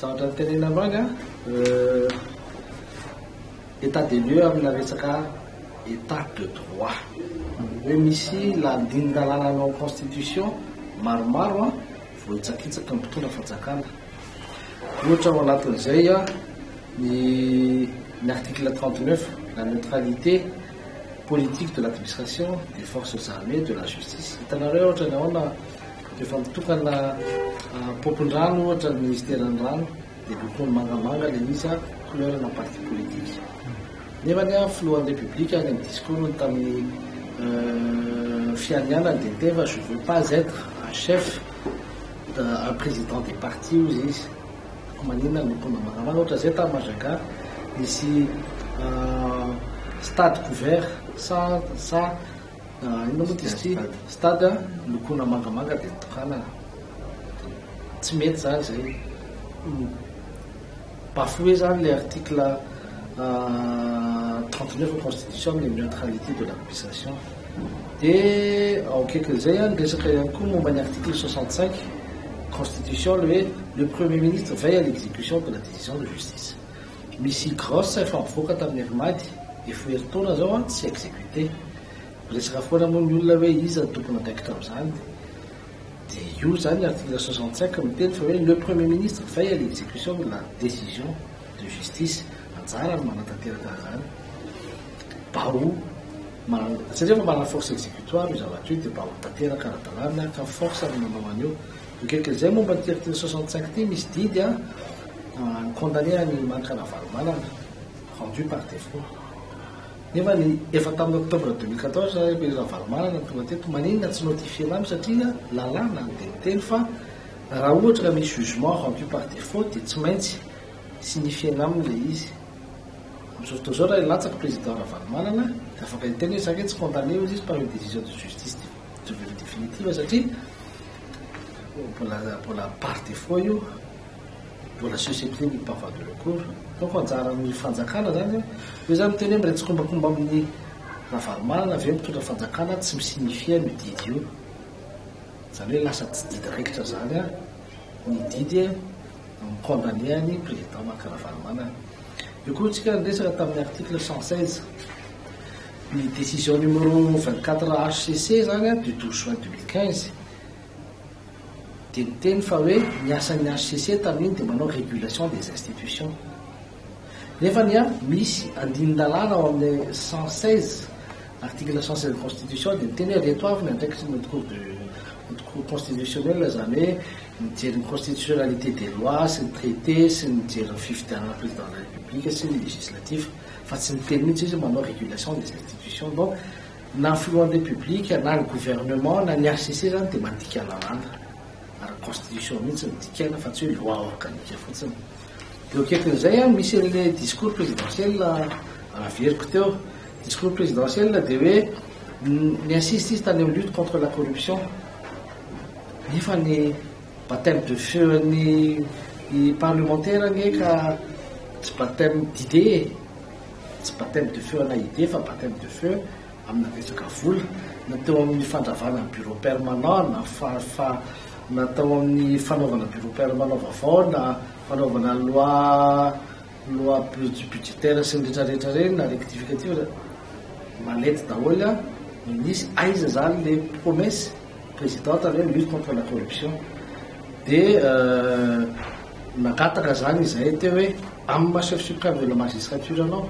Zavatra nitenenina androany nga, état des lieux amina resaka état de droit. Hoe misy lalindalàna anao constitution maromaro an, voahitsakitsaky ny mpitondra fanjakana. Ohatra ao anatin'izay an, ny ny article 39, la neutralité politique de l'administration, des forces armées, de la justice. Hitanareo ohatra ny ahoana Efa mitokana pompon-drano ohatra ny ministeran'ny rano dia lokony mangamanga ilay izy a, couleur na parti politique. Nefa ny filohan'ny République any amin'ny discours-ny tamin'ny euh, fianianany dia niteny fa je veux pas être un chef euh, un président des partis hozy izy. Maninona ny lokony mangamanga ohatra zay tamin'ny Majaga nisy euh, stade couvert sa sa Inona moa izy ity? Stade lokoina mangamanga dia tokanana. Tsy mety izany izay. Bafoué izany ilay article 39 ao constitution amin'ny neutralité de l'accusation. Dia ao akaikin'izay an, resaka ihany koa momba ny article 65 constitution ilay hoe le premier ministre veille à l'exécution de la décision de justice. Misy grosse efa mivoaka tamin'ny alimady, efa ho herintaona zao an, tsy executé. Miresaka foana moa ny olona hoe iza no tompon' andraikitra amin'izany. Dia io zany article soixante cinq miteny fa hoe le premier ministre veille à l'execution de la décision de justice. Anjarany ny manatanteraka an'izany. Mba ho man, satria efa manana force executoire io zavatra io dia mba ho tanteraka ara-dalàna ka force ny manao an'io. Mikiakiaka izay momba ity article 65 ity, misy didy an, ny condamné an'i Mani Ravalomanana, rendu par défaut. Nefa ny efa tamin'ny octobre 2014 ilay Ravalomanana no tonga teto, maninona tsy notifier-na aminy satria lalàna no dia miteny fa raha ohatra ka misy jugement rendu par défaut dia tsy maintsy signifier-na aminy ilay izy. Amin'izao fotoana izao raha hilatsaka président Ravalomanana dia afaka hiteny hoe za ange tsy condamné hoy izy par une décision de justice durée définitive satria mbola par defaut io, mbola susceptible ny parfois de recours, donc anjaran'ny fanjakana zany hoe, io zany miteny hoe miretsikombakomba amin'ny Ravalomanana ve mitondra fanjakana tsy mi signifier an'io didy io, zany hoe lasa tsy didy raikitra zany ny didy mi condamner an'i président Marc Ravalomanana, io koa tsika niresaka tamin'ny article cent seize. Ny décision numéro vingt quatre HCC zany du douze juin deux mille quinze dia niteny fa hoe ny asan'ny HCC tamin'iny dia manao régulation des institutions nefa ny misy andinin-dalàna ao amin'ny cent seize article cent seize constitution dia niteny hoe reto avy ny andraikitry ny cour de cour constitutionnelle zany hoe mijery ny constitutionnalité des lois sy ny traité sy ny mijery ny fifidianana président de la république sy ny législatif fa tsy miteny mihitsy izy manao régulation des institutions donc na filohan'ny République na ny gouvernement na ny HCC zany dia mandika lalàna ary constitution mihitsy no dikaina fa tsy hoe loi organique fotsiny dia eo akaikin'izay a misy an'ilay discours présidentiel averiko teo discours présidentiel dia hoe ni-insiste izy tany amin'ny lutte contre la corruption nefa ny Baptême de feu an'ny parlemantera anie ka tsy baptême d'idée e! Tsy baptême de feu ana idée fa baptême de feu amina resaka vola na teo amin'ny fandravana ny bureau permanent na fa na tao amin'ny fanaovana bureau permanent vaovao na fanaovana loi Loi plus budgetaire sy ny retraretra ireny na rectificative zany malety daholo an! no nisy, aiza zany le promesse presidente le lutte contre la corruption de nangataka zany izahay teo hoe amin'ny maha chef supreme de la magistrature anao,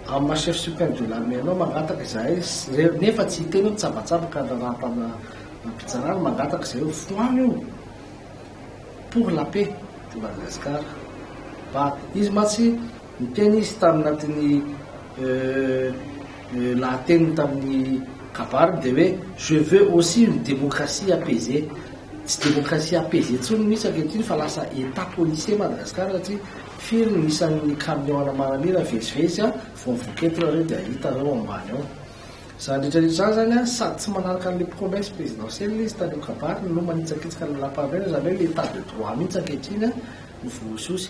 amin'ny maha chef supreme de l'armée anao mangataka izahay nefa tsy hiteny hoe mitsabatsabaka ny raharaham-panam-pitsarana mangataka izahay hoe foano io! pour la paix de Madagascar fa izy mantsy niteny izy tamin'atin'ny lahateniny tamin'ny kabary dia hoe je veux aussi une démocratie apaisée tsy démocratie apaisée intsony mihitsy ankehitriny fa lasa état policier Madagascar satria firy no isan'ny camion ana maramila vezivezy vao voky eto nareo dia hitanareo ambany ao Izany rehetra rehetra izany zany an, sady tsy manaraka an'ilay promesse présidentielle ilay izy tany amin'ny kabary no manitsakitsaka ny lapandrainany, izany hoe ilay état de droit mihitsy ankehitriny an no voaososy.